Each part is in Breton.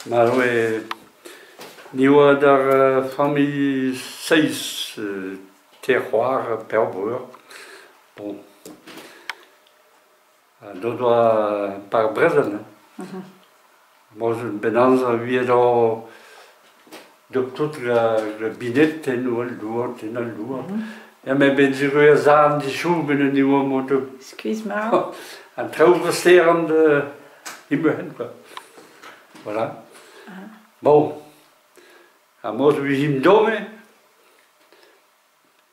Ma oe ni oa d'ar familh seizh te c'hoar pevar breur. Bon, n'o doa par brezel, ma'z eus bet amzer 'viet oc'h Donc toute la, la binette en oa doat, en al doa. Ja, me ben se goe a zarn dishouben en oa moto. Squeeze ma. An traoù gosteran de imehen, quoi. Voilà. Bon. A moz vizim dome,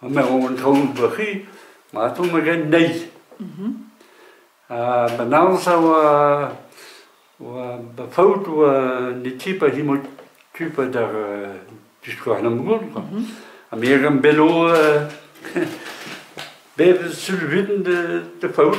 ha me ro an taol bac'hi, ma tomm hag nei. Mhm. Ha ba naus a oa, oa ba faout oa ne ti pa hi mod tu pa d'ar uh, disgouarnamant goul. Mhm. Ha me gant belo uh, be sul vin de, de faout.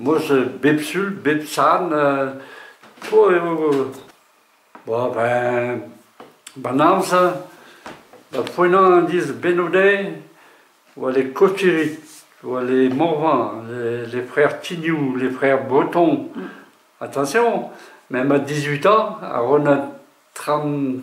Moz bep sul, bep sarn eo ben ba'n amzer da foennañ an dizh bennodeiz oa les cotiers, oa les morvins, les frères Tignoù, les frères Breton. Attention, même à dix-huit ans, a ro 'na tram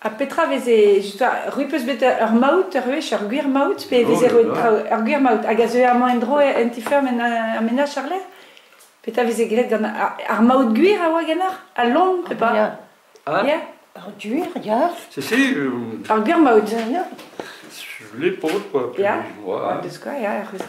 Ha petra veze justa rui peus bet ur maout ur wech ur gwir maout pe veze roet ur gwir maout hag a zeué amañ en-dro en ti-feur en menaj àr-lerc'h petra veze graet gant ar maout gwir a oa ganeoc'h al lon pe pas ah, ya ur gwir ya c'est si ur gwir maout ya les potes quoi ya deus quoi ya ur c'hwezh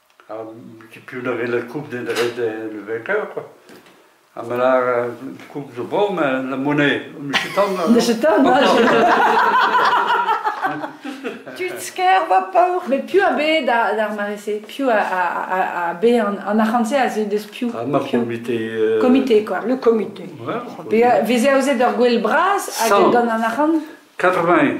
Tud a vez koup didreid en Vekeur. Ha ma lâr koup zo bon, mais la monnaie. Michitan Michitan Tudsker va paour. Mais piv a be d'ar mare-se Piv a be an arc'hant-se a ze deus piv ah, Ma comité. Euh, comité, quoi. Le comité. Ouais, Veze aozet ur gwell bras hag gant an arc'hant 80.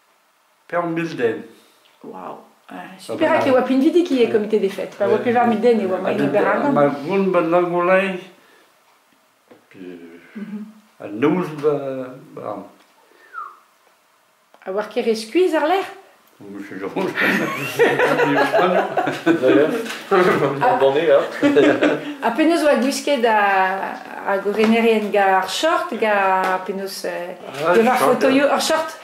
Peurmilden. Wow. Perak e oa pinvidik ivez komite des fêtes Pa oa pevar mil den e oa maiz ober ar gant. Ma gont ba Langolay a noz ba ba A oar ket re skuizh àr-lerc'h Monsieur Geronge. Banné, là. Ha penaos oa gwisket a- hag o renerien gant ar short, gant penaos... euh, Ah, pevar short, fotoioù, ur short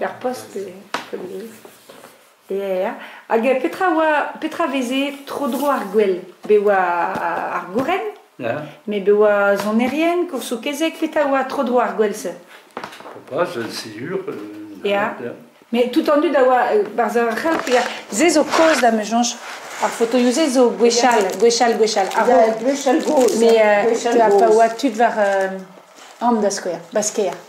er post e hag petra oa petra veze tro-dro ar gwel be oa ar gouren me be oa sonerien koursoù kezeg petra oa tro-dro ar gwel-se pas sur mais tout en dud a oa barzh ar c'help se zo kaoz da me soñj ar fotoioù se zo gwechall gwechall gwechall a-raok mais pa oa tud war an da skouer basker